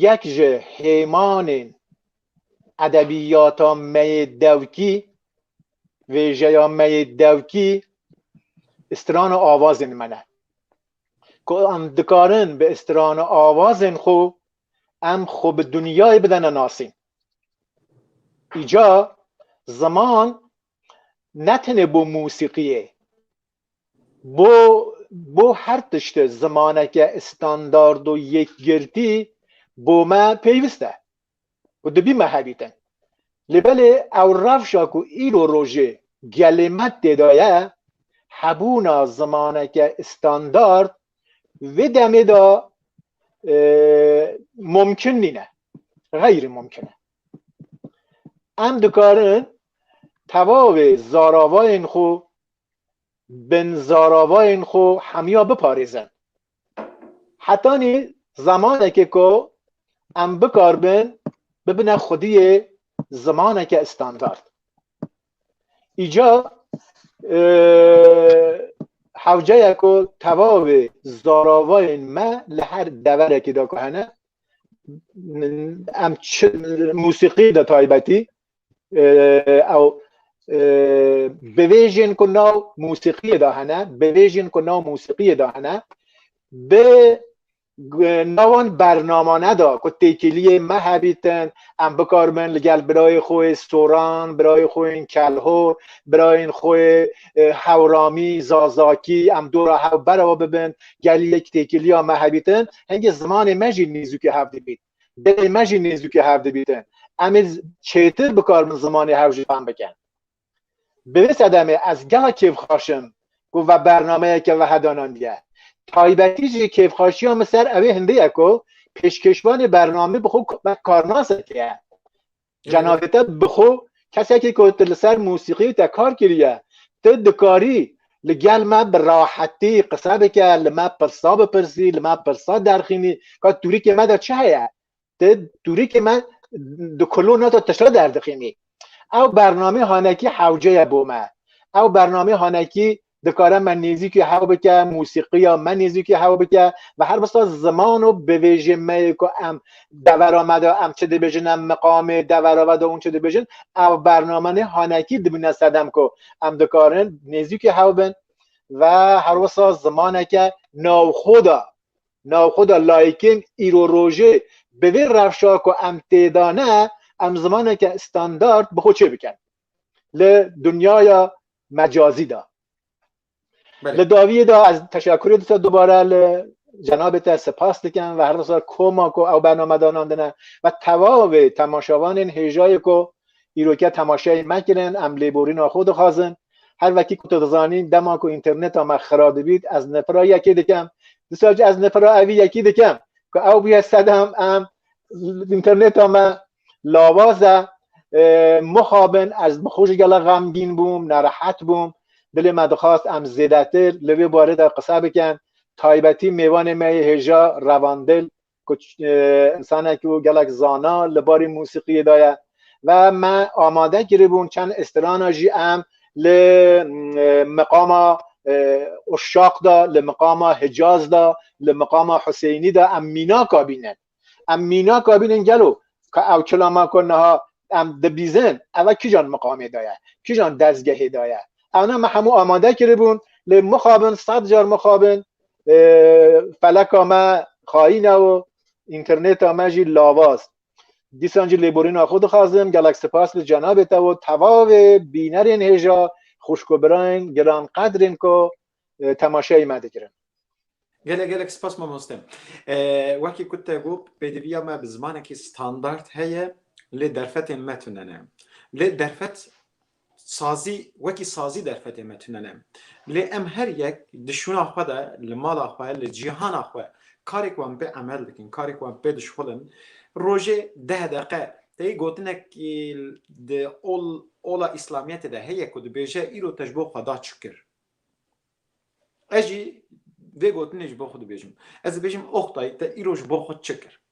yek ji hêmanên edebîyata me yê dewkî, vêjeya me yê dewkî strana avazên me ne. ku em dikarin bi îstirana awazên xwe em xwe bi dinyayê bidene nasîn. Îca ziman ne tenê bo musîqiyê, bo bo her tiştê zimaneke standard û yekgirtî bo me pêwîst e. û dibî me hebîtin. Lê belê ew rewşa ku îro rojê gelê me têda ye, hebûna zimaneke standard vê demê de mumkin nîne, xeyrî mumkin e. Em dikarin tevavê zaravayên xwe, binzaravayên xwe hemiya biparêzin. Hetanî zemanekê ku em bikaribin bibine xwediyê zimaneke standard. Îca hewceye ku tevavê zaravayên me li her deverekê de ku hene em musîqî de taybetî ew bivêjên ku nav musîqiyê de hene bivêjên ku nav musîqiyê de hene bi nawan bernamane da ku têkiliyê me hebîtin em bikarmin li gel birayê xwe soran birayê xwe kelho birayên xwe hewramî zazakî em dora hew berawa bibin geliyek têkiliya me hebîtin hingê zimanê me jî nêzûkê hev dibît gelê me jî nêzûkî hev dibîtin. Em ê çêtir bikaribin zimanê hev jî fehm bikin. Bi vê sedemê ez gelek kêfxaş im ku ve bernameyeke weha danandiye. Taybetî jî kêfxaşiya min ser ewê hindê ye ku pêşkêşvanê bernamê bi xwe wek karnasek ye. Cenabê te bi xwe kesekî ku tu li ser mûsîqî te kar kiriye, tu dikarî li gel me bi rahetî qise bike, li me pirsa bipirsî, li me pirsa derxînî, ka tûrikê me de çi heye? Tu tûrikê me di kolona de tişta derdixînî. Ew bernamê hanekî hewce ye bo me. Ew bernamê hanekî dikare me nêzîkî hew bike musîqiya me nêzîkî hew bike ve her bista ziman û bivêjê me yê ku em devera me de em çi dibêjin em miqamê devera ve de hûn çi dibêjin ew bername nê hanekî dibîne sedem ku em dikarin nêzîkî hew bin ve her wisa zimaneke navxwe de navxwe de layikên îro rojê bi vê rewşa ku em tê de ne em zimaneke standard bi xwe çê bikin li dunyaya mecazî da. Li daviyê de ez teşekurê disa dubare li cenabê te sipas dikim ve herdisa koma ku ew bername danandine ve tevavê temaşevanên hêjayê ku îroke temaşeyê me kirin em lêborîna xwe dixwazin her vekî ku tu dizanî dema ku înterneta me xira dibît ez nifira yekê dikim disa ez nifira evî yekî dikim ku ew bûye sedem em interneta me lawaz e mixabin ez bi xwe jî gela xemgîn bûm nerehet bûm dilê me dixwast em zêdetir li vê barê de qise bikin taybetî mêvanê me yê hêja revandil ku insanekî û gelek zana li barî musîqiyê de ye Ve me amade kiribûn çend îstirana jî em li miqama Uşşaq de, li miqama Hicaz de, li miqama Huseynî de em mînaka bînin. Em mînaka bînin gelo ka ew çilama ku niha em dibîzin eve kîjan miqamê de ye, kîjan dezgehê de ye. Ewne me hemû amade kiribûn lê mixabin sed car mixabin feleka me xayîn e û înternêta me jî lavaz. Dîsan jî lêborîna xwe dixwazim gelek sipas li cenabê te û tevavê bînerên hêja xwişk û birayên giran qedrên ku e, temaşeyê me dikirin. Gelek gelek spas mamoste. E, wekî ku te got pêdiviya me bi zimanekî standard heye lê derfetên me tune ne. Lê derfet Sazî wekî sazî derfetê me tune ne. Lê em her yek di şûna xwe de, li mala xwe, li cîhana xwe karek wan pê emel dikin, karek wan pê dişuxulin. Rojê deh deqe tê gotinek di ola îslamiyetê de heye ku dibêje îro te ji bo xweda çi kir. Ez jî vê gotinê ji bo xwe dibêjim. Ez dibêjim oxtay te îro ji bo xwe çi kir.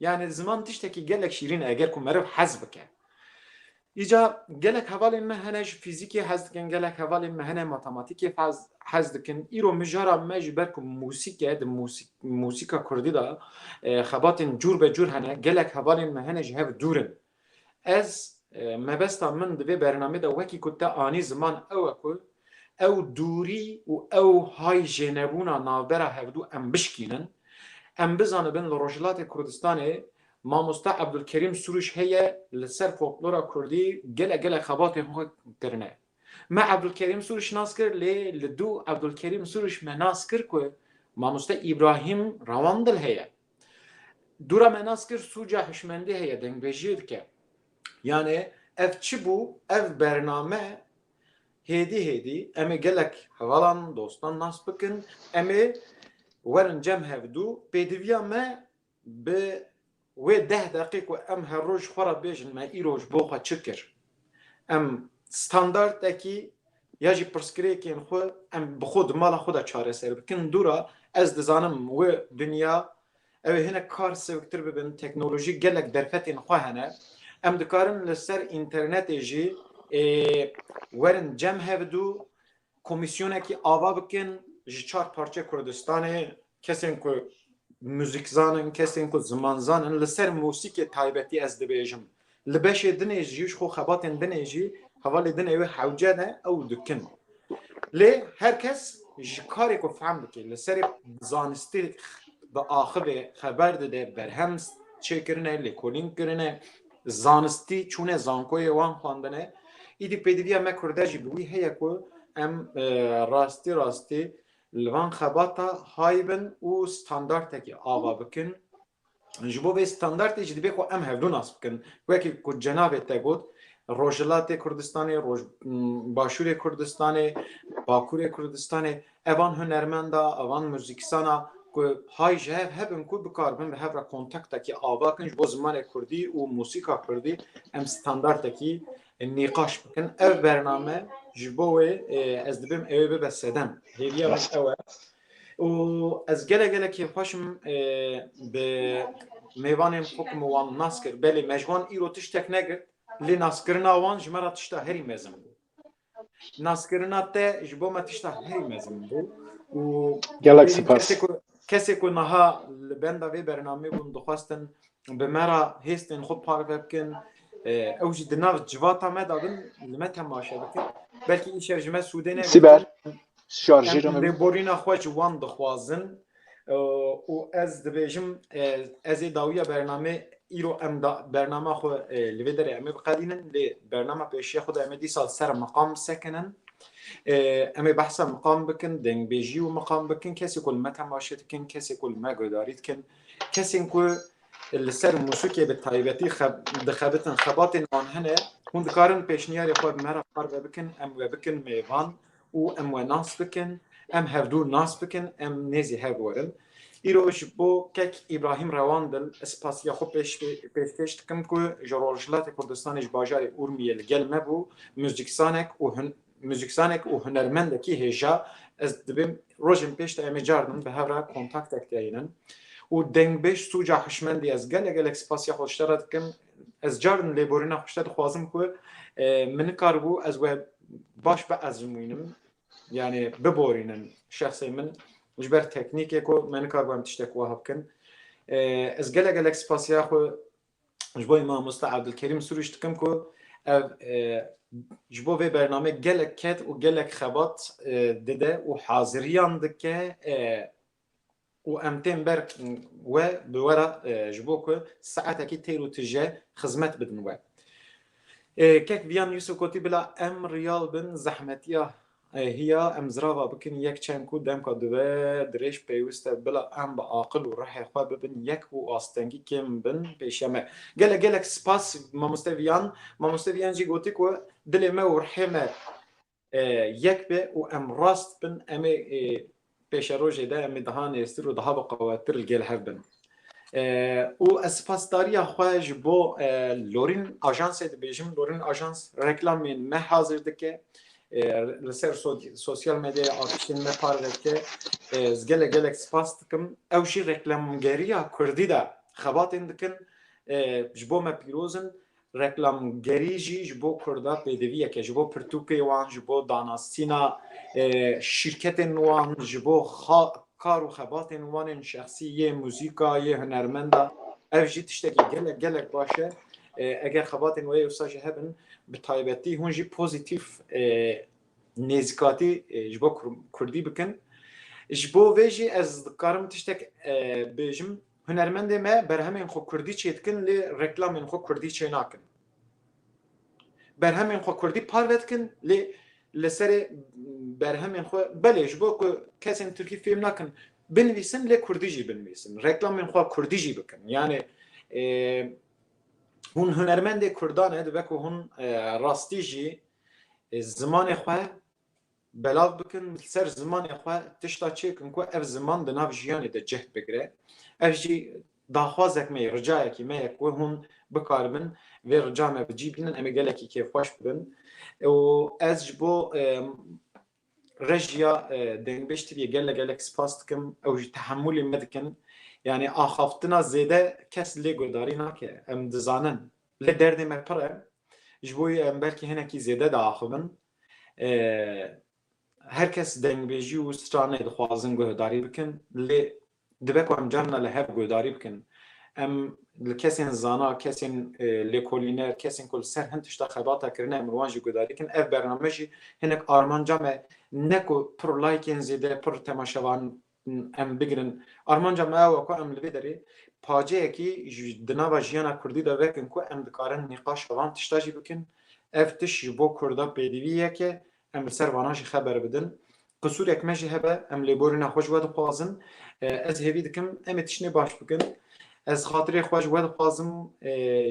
Yanî ziman tiştekî gelek şîrîn e eger ku meriv hez bike. Îca gelek hevalên me hene ji fîzîkê hez dikin, gelek hevalên me hene matematîkê hez dikin. Îro mijara me ji ber ku musîk e di musîka kurdî de xebatên cûr be cûr hene. Gelek hevalên me hene ji hev dûr in. Ez, mebesta min di vê bernamê de wekî ku te anî ziman ew e ku ew dûrî û ew hay jênebûna navbera hevdû em bişkînin. Em bizanibin li Rojhilatê Kurdistanê mamoste Ebdulkerîm Sûrûş heye li ser folklora kurdî gelek gelek xebatên xwe kirine. Me Ebdulkerîm Sûrûş nas kir lê li dû Ebdulkerîm Sûrûş me nas kir ku mamoste Îbrahîm Rawandil heye. Dûra me nas kir sûca hişmendî heye dengbêjiyê dike. Yanê ev çi bû ev bername hêdî hêdî em ê gelek hevalan dostan nas bikin em ê werin cem hevdû pêdiviya me bi wê deh deqî ku em her roj xwe re bêjin me îro ji bo xwe çi kir Em standardekî ya jî pirsgirêkên xwe em bi xwe di mala xwe de çareser bikin. Dûra ez dizanim wê dinya ew ê hinek kar sewiktir bibin, teknolojî gelek derfetên xwe hene. Em dikarin li ser înternetê jî werin cem hev dû Komîsyonekî ava bikin ji çar parçe Kurdistanê kesên ku muzîkzan in, kesên ku zimanzan in li ser mûsîkê taybetî ez dibêjim li beşê dinê jî ji xwe xebatên dinê jî hevalê dinê wê hewce ne ew dikin. Lê her kes ji karê ku fehm dike li serê zanistî diaxivê, xeber dide, berhem çêkirine, lêkolîn kirine, Zanistî çûne zankoyê wan xwendine. Îdî pêdiviya me kurde jî bi wî heye ku em rastî rastî li van xebata hay bin û standartekî ava bikin. Ji bo vê standartê jî dibê ku em hevdu nas bikin. Wekî ku cenabê te got Rojhilatê Kurdistanê, Roj Başûrê Kurdistanê, Bakurê Kurdistanê Evan hunermenda, evan muzîksana ku hay ji hev hebin ku bikaribin bi hev re kontaktekî ava kin ji bo zimanê kurdî û muzîka kurdî em standartekî nîqaş bikin. Ev bername ji bo wê ez dibim ewê bibe sedem. Hêviya min ew e. û ez gelek gelek kêfxweş im bi mêvanên xwe ku min wan nas kir. Belê me ji wan îro tiştek negirt lê naskirina wan ji me re tişta herî mezin bû. Naskirina te ji bo me tişta herî mezin bû û gelek sipas kesê ku niha li benda vê bernameyê bûn dixwestin bi me ra hêstên xwe parve bikin ew jî di nav civata me dabin li me temaşe bikin belkî îşev ji me sûdê ne sîber şarjîrê me borîna xwe ji wan dixwazin û ez dibêjim ez ê dawiya bernamê îro em da bernama xwe li vê derê em ê biqedînin lê bernama pêşiya xwe da em ê dîsal ser miqam sekinin em ê behsa miqam bikin dengbêjî û miqam bikin kesê ku li me temaşe dikin kesê ku li me guhdarî dikin kesên ku li ser musûkê bi taybetî dixebitin xebatên wan hene hûn dikarin pêşniyarê xwe bi me re parve bikin em we bikin mêvan û em we nas bikin, em hevdû nas bikin, em nêzî hev werin. Îro ji bo kek Îbrahîm Rewandil ez spasiya xwe pêşkêş dikim ku ji Rojhilatê Kurdistanê ji bajarê Urmiyê li gel me bû, muzîkzanek û muzîkzanek û hunermendekî hêja, ez dibêm rojên pêş de em ê carnan bi hev re kontaktek de hînin û dengbêj Sûca Hişmendî ez gelek gelek spasiya xwe ji te re dikim, Ez carin lêborîna xwe ji te dixwazim ku min nikaribû ez we baş biezmûnim yanê biborînin şexsê min ji ber teknîkê ku me nikaribû em tiştek wiha bikin. Ez gelek gelek spasiya xwe ji bo mamosta Abdulkerîm Sûrûj dikim ku ev ji bo vê bername gelek ket û gelek xebat dide û haziriyan dike û em tên ber we bi we re ji bo ku saetekî têr û tije xizmet bidin we. Kek Viyan Yusuf gotî bila em riyal bin zehmetiya hiya em zirava bikin yek çend ku demka di ve dirêj pêwist e bila em bi aqil û rihê xwe bibin yek û astengî kêm bin pêşiya me. Gelek gelek spas mamoste Viyan. Mamoste Viyan jî gotî ku dilê me û rihê me yek be û em rast bin em ê pêşerojê de em ê daha nêztir û daha biqewettir li gêl hev bin. Û ez sipasdariya xwe ji bo Lorîn Ajansê dibêjim, Lorîn Ajans reklamên me hazir dike, li ser sosyal medyaya artistên me parve dike, ez gelek gelek sipas dikim. Ew jî reklamgeriya kurdî de xebatên dikin, ji bo me pîroz in. Reklamgerî jî ji bo Kurda pêdiviyek e, ji bo pirtûkê wan, ji bo danasîna şîrketên wan, ji bo kar û xebatên wan ên şexsî, yê muzîka, yê hunermenda. Ev jî tiştekî gelek gelek baş e. Eger xebatên wê wisa jî hebin, bi taybetî hûn jî pozîtîf nêzîkatî ji bo Kurdî bikin. Ji bo vê jî ez dikarim tiştek bijim, Hunermendê me berhemên xwe kurdî çêdikin lê reklamên xwe kurdî çênakin. Berhemên xwe kurdî parve dikin lê li serê berhemên xwe belê ji bo ku kesên tirkî fêm nakin binivîsin lê kurdî jî binivîsin. Reklamên xwe kurdî jî bikin. Yanê hûn hunermendê kurdan e dibe ku hûn rastî jî zimanê xwe Belav bikin li ser zimanê xwe tişta çêk in ku ev ziman di nav jiyanê de cih bigire. Ev jî daxwazek me ye, ricayekî me ye ku hûn bikaribin vê rica me bi cî bînin, em ê gelekî kêfxweş bibin û ez ji bo rejiya Dengbêj Tiviyê gelek gelek spas dikim, ew jî tehemûlê me dikin. Yanî axaftina zêde kes lê guhdarî nake, em dizanin. Lê derdê me pir e, ji bo wî em belkî hinekî zêde diaxivin. Her kes dengbêjî û stranê dixwazin guhdarî bikin lê dibe ku em carina li hev guhdarî bikin. Em li kesên zana, kesên lêkolîner, kesên ku li ser hin tişta xebata kirine em li wan jî guhdarî bikin. Ev bername jî hinek armanca me ne ku pir laykên zêde, pir temaşevan em bigirin. Armanca me ew e ku em li vê derê paceyekî di nava jiyana kurdî de vekin ku em dikarin nîqaşa van tişta jî bikin. Ev tişt ji bo kurda pêdivî yek e, em li ser vanan jî xeber bidin. Qisûrek me jî hebe, em lêborîna xwe ji we dixwazin. Ez hêvî dikim em ê tiştnê baş bikin. Ez xatirê xwe ji we dixwazim,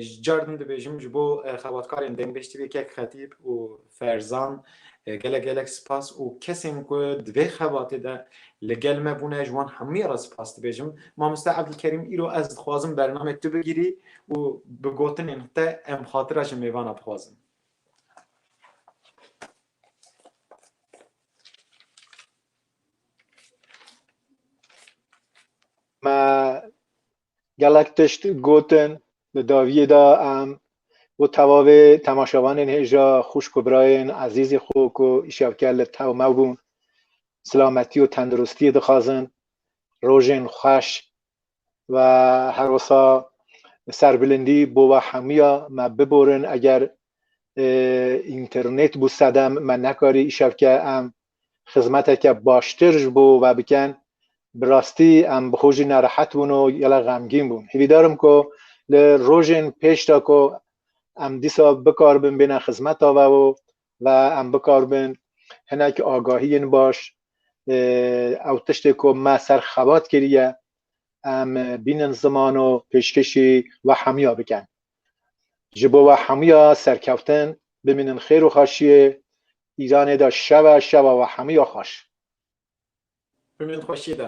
ji car din dibêjim ji bo xebatkarên Dengbêj TV, Kek Xetîb û Ferzan, Gelek gelek spas û kesên ku di vê xebatê de li gel me bûne ji wan hemûyan re spas dibêjim. Mamoste Evdilkerîm îro ez dixwazim bernameyê tu bigirî û bi gotinên te em xatira ji mêvana bixwazin. Me Gelek tişt gotin di dawiyê de em û tevavê temaşevanên hêja xwişk û birayên ezîzê xwe ku îşewker li tewmew bûn silametî û tendirustiyê dixwazin, rojên xweş û her wisa serbilindî bo we hemûya me biborin eger înternêt bû sedem me nekarî îşewke em xizmeteke baştir ji bo we bikin, bi rastî em bi xwe jî nerehet bûn û gelek xemgîn bûn. Hîvîdar im ku li rojên pêş de ku em dîsa bikaribin bêne xizmeta we û ve em bikaribin hinek agahiyên baş ew tiştê ku me ser xebat kiriye em bînin ziman û pêşkêşî we hemiya bikin. Ji bo we hemûya serkeftin bimînin xêr û xweşiyê Îranê de şeve şeva we hemûya xweş. Bimînin xweşiyê de.